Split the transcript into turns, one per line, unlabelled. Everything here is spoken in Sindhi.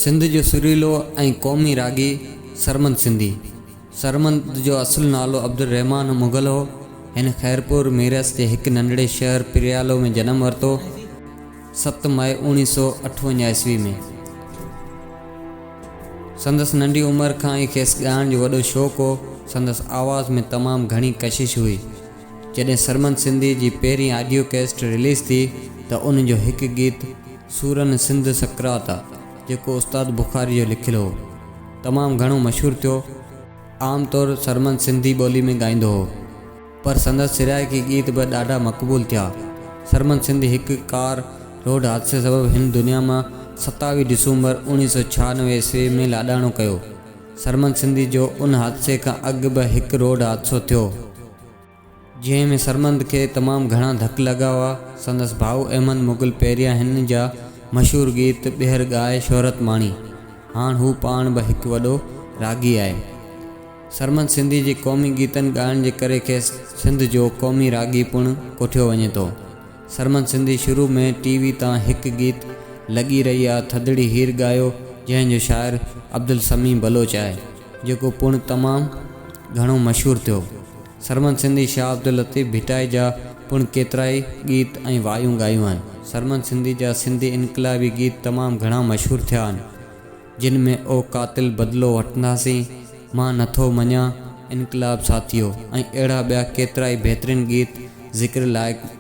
سنڌ جو سريلو ۽ قومي راڳي سرمد سنڌي. سرمد جو اصل نالو عبدالرحمان مغل هو. هن خيرپور ميرس جي هڪ ننڍڙي شهر پريالو ۾ جنم ورتو، ست مئي اوڻي سو اٺونجا عيسوي ۾. سندس ننڍي عمر کان ئي کيس ڳائڻ جو وڏو شوق هو. سندس آواز ۾ تمام گهڻي ڪشش هئي. جڏهن سرمد سنڌي جي پهرين آڊيو ڪيسٽ رليز ٿي ته ان جو هڪ گيت، سورن سنڌ سقراط آ جيڪو استاد بخاري جو لکيل هو تمام گهڻو مشهور ٿيو عام طور سرمن سنڌي ٻولي ۾ ڳائيندو هو پر سندس سرائيڪي ڳيت به ڏاڍا مقبول ٿيا سرمن سنڌي هڪ ڪار روڊ حادثي سبب هن دنيا مان ستاويهه ڊسومبر اوڻيهه سو ڇهانوي عيسوي ۾ لاڏاڻو ڪيو سرمن سنڌي جو ان حادثي کان اڳ به هڪ روڊ حادثو ٿيو جنهن ۾ سرمند کي تمام گهڻا ڌڪ لڳا هئا. سندس ڀاء احمد مغل پيريان هن جا مشهور گيت ٻيهر ڳائي شهرت ماڻي. هاڻ هو پاڻ به هڪ وڏو راڳي آهي. سرمند سنڌي جي قومي گيتن ڳائڻ جي ڪري کيس سنڌ جو قومي راڳي پڻ ڪوٺيو وڃي ٿو. سرمند سنڌي شروع ۾ ٽي وي تان هڪ گيت لڳي رهي آ ٿڌڙي هير ڳايو جنهن جو شاعر عبدالسميع بلوچ آهي. جيڪو پڻ تمام گهڻو مشهور ٿيو. سرمد سنڌي شاهه عبداللطيف ڀٽائي جا پڻ ڪيترائي ڳيت ۽ وايون ڳايون آهن. سرمد سنڌي جا سنڌي انقلابي ڳيت تمام گهڻا مشهور ٿيا آهن، جن ۾ او قاتل بدلو وٺنداسين، مان نٿو مڃان، انقلاب ساٿيو ۽ اهڙا ٻيا ڪيترائي بهترين ڳيت ذڪر لائق